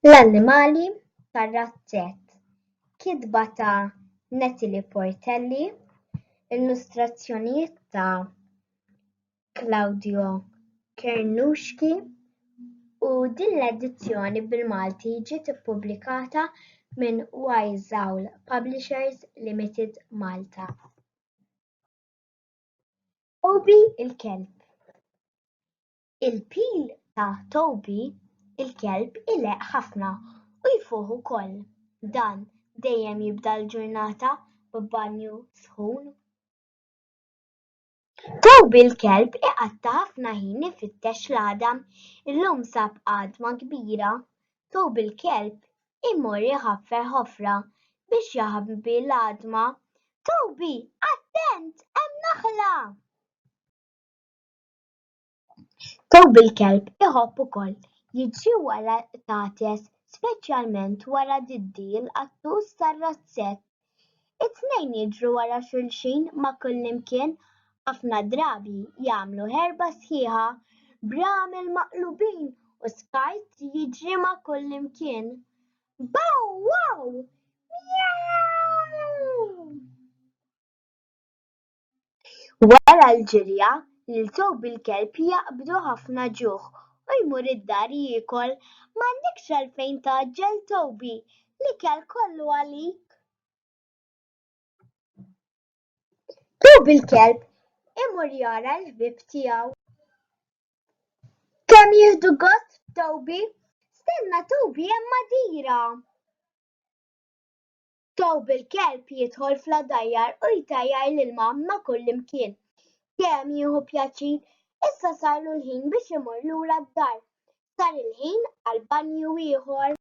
L-annimali tar-razzett, kitba ta' Natalie Portelli, illustrazzjonijiet ta' Claudio Cernuschi, u din l-edizzjoni bil-Malti ġiet ippubblikata minn Wyzhowl Publishers Limited Malta. Toby il-kelb. Il-pil ta' Toby il-kelb ileqq ħafna u jfuħ ukoll. Dan dejjem jibda l-ġurnata b'banju sħun. Toby il-kelb iqatta' ħafna ħin ifittex l-għadam. Illum sab għadma kbira. Thawb il-kelb imur iħaffer ħofra biex jaħbi l-għadma. Thawbi, attent, hemm naħla! Thawb il-kelb iħobb ukoll jiġri wara l-qtates, speċjalment wara diddi l-qattus tar-razzett. It-tnejn jidhru wara xulxin ma' kullimkien, ħafna drabi jagħmlu ħerba sħiħa b'ramel maqlubin u skart li jiġri ma' kullimkien. Baw waw! Mjaw! Wara l-ġirja, lil thawb il-kelb jaqbdu ħafna ġuħ u jmur id-dar jiekol. M'għandekx għalfejn tgħaġġel thawbi, l-ikel kollu għalik. Thawb il-kelb imur jara l-ħbieb tiegħu. Kemm jieħdu gost b'thawbi! Stenna thawbi hemm għadira. Thawb il-kelb jidħol fl-għadajjar u jtajjar l-ilma ma' kullimkien. Dejjem jieħu pjaċir, issa sarlu l-ħin biex imur lura d-dar. Sar il-ħin għal banju ieħor.